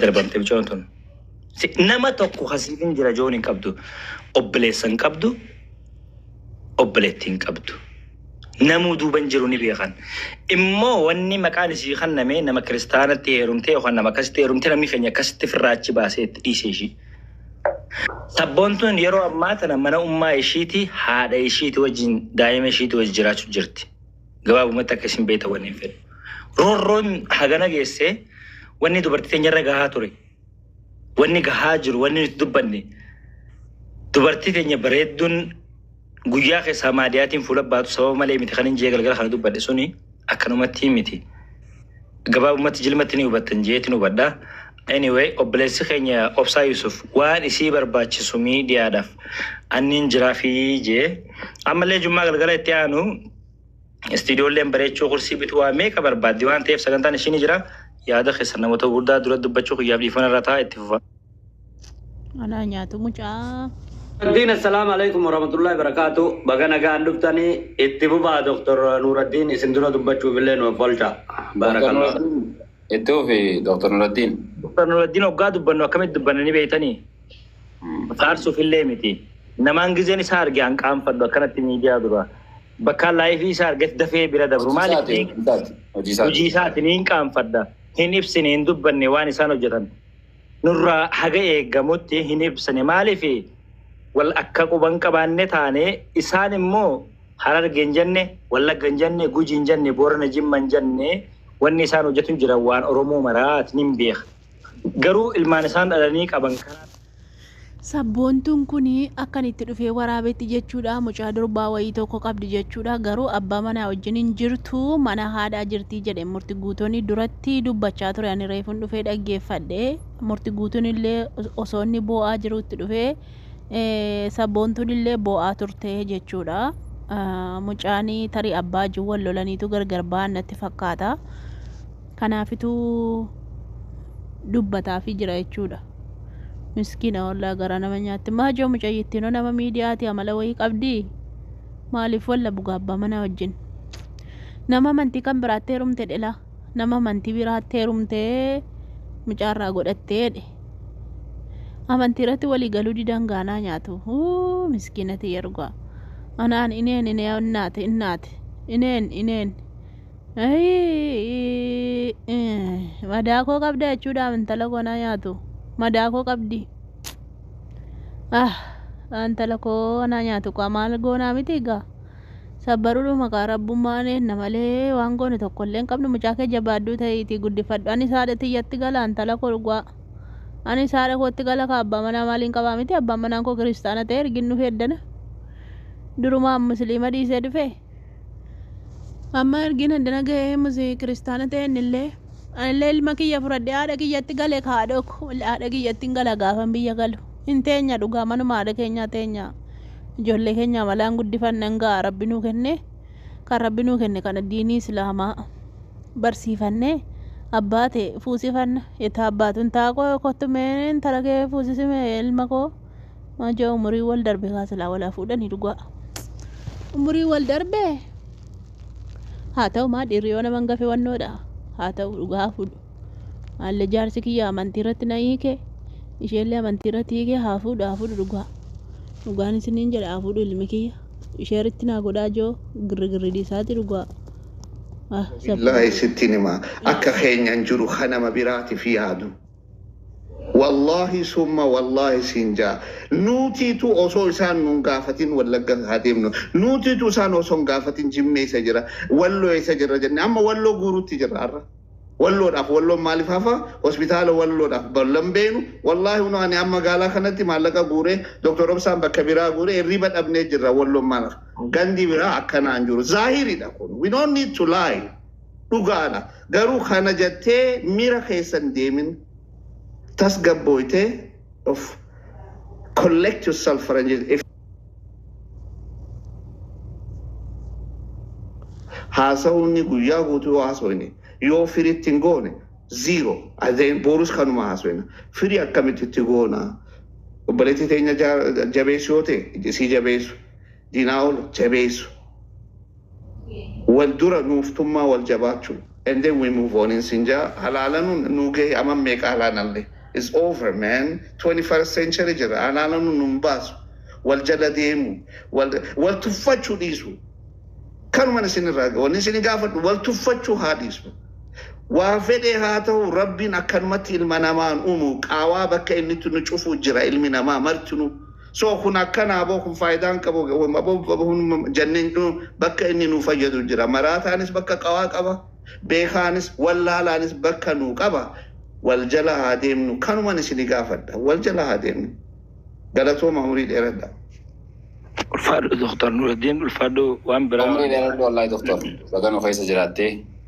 darbamte bicoon tun. Si- Nama tokko kasiifin jira joon hin qabdu. Obboleessa hin qabdu. Obboleetti hin qabdu. Namuu duuban jiru ni beekan. Immoo wanni maqaan isii kanname nama kiristaanatti heerumtee yookaan nama akkasitti heerumtee namni keenya akkasitti firraa achi baasee itti dhiise ishii. Sabboontuun yeroo ammaa tana mana ummaa ishiiti haadha ishiiti wajjin daa'ima ishiiti wajjin jiraachuu jirti. Gabaabumatti akka isin beektan wannin fedhu. Roorroon hagana geesse wanni dubartii teenyarra gahaa ture. Wanni gahaa jiru wanni nuti dubbanne dubartii teenya bareedduun guyyaa keessaa maadiyaatiin fuula baatu sababa malee miti kan hin jee galgala kana dubbanne suni akkanumatti miti. Gabaabumatti jilmatti ni hubattan jeetin hubadha. Anyway obboleessi keenya Obsaa Yusuf waan isii barbaachisu miidiyaadhaaf anniin jiraafi jee ammallee jummaa galgala itti aanu istiidiyoolleen bareechuu kursii bituu waa meeqa barbaaddi waan ta'eef sagantaan ishii ni jira. Yaada keessan namoota gurguddaa dura dubbachuu kiyyaaf dhiifama irra ta'a itti fufa. Anaa nyaatu mucaa. Nuraddiin assalaamu alaikum warahmatullahi barakaatu baga nagaan dhuftanii itti fufaa Dr. Nuraddiin isin dura dubbachuuf illee nu offolcha Dr. baarakallah Nuraddiin itti fufi Dr. Nuraddiin. Dr. Nuraddiin oggaa dubbannu akkamitti dubbanna ni beeytanii faarsuuf illee miti namaan gizeen isaa arge an qaanfadhu akkanatti miidiyaa dura bakkaan laayifii isaa argetti dafee bira dabru Hojii maaliif isaati. beek Hojii isaati. Hojii isaati. hojii isaati niin qaanfadha hin ibsine hin dubbanne waan isaan hojjetan nurraa haga eegamutti hin ibsine maaliif wal akka quba hin qabaanne taane isaan immoo Hararge hin jenne Wallagga hin jenne Guji hin jenne Boorana Jimma hin jenne wanni isaan hojjatu hin jiran waan Oromoo maraat nin beeka garuu ilmaan isaan dhalanii qaban kanaa Sabboontuun kun akkan itti dhufee waraabetti jechuudha mucaa durbaa wayii tokko qabdi jechuudha garuu abbaa manaa wajjin hin jirtu mana haadhaa jirti jedhe murti guutooni duratti dubbachaa ture ani reefun dhufee dhaggeeffadhe murti guutuun illee osoo inni boo'aa jiru itti dhufee sabboontuun illee boo'aa turte jechuudha mucaanii tarii abbaa wajjin wal lolaniitu gargar ba'an natti fakkaata. Kanaafitu dubbataafi jira jechuudha. Miskiina wallaa garaa nama nyaatti. Maajoo mucayyittiinoo nama miidiyaati amala wayii qabdi. Maaliif walla buga abbaa manaa wajjin. Nama amantii kan biraatti heerumte dhela. Nama amantii biraatti heerumte mucaarraa godhatteedhe. Amantii irratti walii galuu didan gaanaa nyaatu. Uu miskiinati yergaa. Anaan ineen inee innaate innaate. Ineen ineen. Madaa koo qabda jechuudhaaf intala koo na nyaatu. Madaa koo qabdi. Ah, intala koo na nyaatu kaa maal goonaa miti egaa. Sabbaruudhuma kaa rabbummaan eenna malee waan goone tokko illee hin qabnu mucaa kee jabaadhuu ta'iitii guddifadhu. Ani saadha tiyyatti gala intala koo dhugaa. Ani saadha kootti gala kaa abbaa manaa maaliin qabaa miti abbaan manaan koo kiristaana ta'e ergin dhufee eddana. Durumaan musliima dhiisee dhufee. Amma ergin addana ga'ee musee kiristaana ta'een illee anillee ilma kiyya fudhadhee haadha kiyyatti gale ka haadha ko haadha kiyyatti hin gala gaafan biyya galu hin teenya dhugaa manuma haadha keenyaa teenya ijoollee keenya amalaan guddifanna hin ga'a rabbi nuu kenne kan rabbi nuu kenne kana diinii islaamaa barsiifanne abbaa ta'e fuusifanna itti abbaatun taaqoo kottu mee intala kee fuusisime ilma koo Maajaa umurii wal darbe kaa silaa walaa fuudhanii dhugaa. Umurii wal darbe haa ta'u maa dhiirri yoo naman gafe wannoodha haa ta'u dhugaa haa fuudhu. Haalli jaarsi kiyya amantii irratti na hiike isheellee amantii irratti hiike haa fuudhu haa fuudhu dhugaa. Dhugaan isiniin jedha haa fuudhu ilmi kiyya. Ishee irratti naa godhaa joo girrigirri dhiisaati dhugaa. Ah, sabboon. Billaahi sittiin hima akka keenyan jiru ka nama biraatiif yaadu Wallahi summa wallahi siin jaa nuutiitu osoo isaan nuun gaafatin wallagga haa deemnu nuutiitu isaan osoo hin gaafatin jimmee isa jira walloo isa jira jenne amma walloo guuruutti jira arra walloodhaaf walloon maaliif hafa hospitaala walloodhaaf ballan beenu wallahi unu ani amma magaalaa kanatti maallaqa guuree doktor obsaan bakka biraa guuree irriiba dhabnee jirra walloon maalaaf gandi biraa akkanaan jiru zaahiridha kun we don't need to lie Dhugaadha garuu kana jattee mira keessa hin deemin tasgabbooyte of collect yourself faranjii if haasawuunni guyyaa guutuu yoo haasawine yoo firitti hin goone ziiro adeen boorus kanuma haasawina firii akkamitti itti goona obboleettii teenya jabeessu yoo ta'e isii jabeessu diinaa ol jabeessu Wal dura nuuf tummaa wal jabaachu and then we move on in sin jaa halaalanun nuu gahe aman meeqa halaanalle is over man 21st century jirra halaalanun nun baasu wal jala deemu wal wal tuffachu dhiisu kanuman isin irraa wanni isin gaafadhu wal tuffachu haa dhiisnu waa fedhe haa tahu rabbin akkanumatti ilma namaan umu qaawaa bakka innitti nu cufu jira ilmi namaa martinu So kun akkana aboo kun faayidaa hin qabu aboo jennee bakka inni nu fayyadu jira maraataanis bakka qawaa qaba beekaanis wallaalaanis bakka nu qaba wal jala haa deemnu kanuman isin gaafadha wal jala haa deemnu galatooma umurii dheeradha. Ulfaadhu Dr. Nuraddiin ulfaadhu waan biraa. Umrii dheeradhu wallahi Dr. Baga nu keessa jiraattee.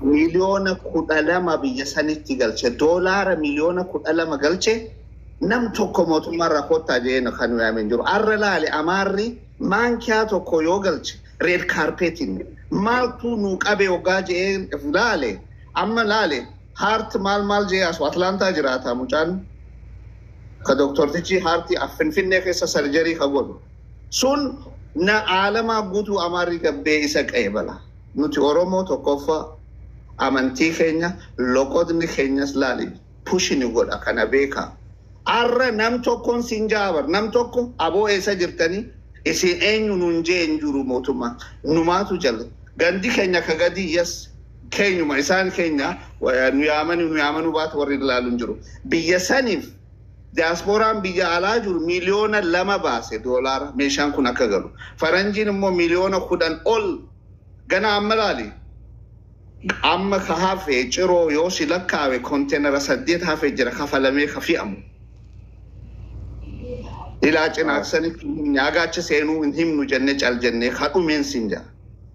miliyoona kudha lama biyya sanitti galche doolaara miliyoona kudha lama galche nam tokko mootummaa irraa koottaa jedhee kan nu yaame hin jiru. Arra laale amaarri maankiyaa tokko yoo galche reed kaarpeetiin maaltu nu qabe hoggaa jedhee laale amma laale haart maal maal jedhee asu Atlaantaa jiraata mucaan ka doktortichi haartii finfinnee keessa sarjarii ka godhu sun na aalamaa guutuu amaarri gabbee isa qeebala. Nuti oromoo tokkoffa amantii keenya loqodni keenyas laali pushi nu godha kana beeka. Arra nam tokkon sin ja'a bar nam tokko abo eessa jirtani isin eenyu nun jee hin jiru mootumma numaatu jal gandi keenya ka gadii yes keenyuma isaan keenya nu yaamani nu yaamanu baatu warri laalu hin jiru biyya sanif Diyaaspooraan biyya alaa jiru miliyoona 2 baase doolaara meeshaan kun akka galu. Faranjiin immoo miliyoona 10 ol gana amma ilaali amma ka hafe ciroo yoo si lakkaawe konteenara 8 hafe jira kafalamee ka fi'amu. Ilaa cinaaksanitti hin himne agaacha seenuu hin himnu jenne cal jennee ka dhumeen sin jaa.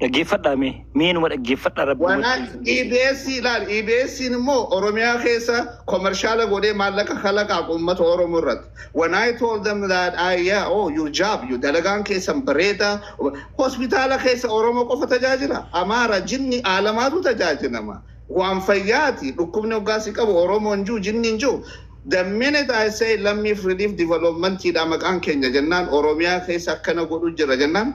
Dhaggeeffadhaa mee mee numa dhaggeeffadhaa rabbi Waan wajjin. EBS ilaali. EBS'n immoo Oromiyaa keessa komershaala godhee maallaqa kalaqaaf uummata Oromoo irratti. When I told them that I, yeah, oh, your job, your dalagaan keessan bareeda. Hospitaala keessa Oromoo qofa tajaajila. Amaara, jinni, aalamaatu tajaajilama. Waan fayyaati. Dhukkubni hoggaa si qabu Oromoo hin jiru, jinni hin jiru. The minute I say lammiif relief development dha maqaan keenya jennaan Oromiyaa keessa akkana godhu jira jennaan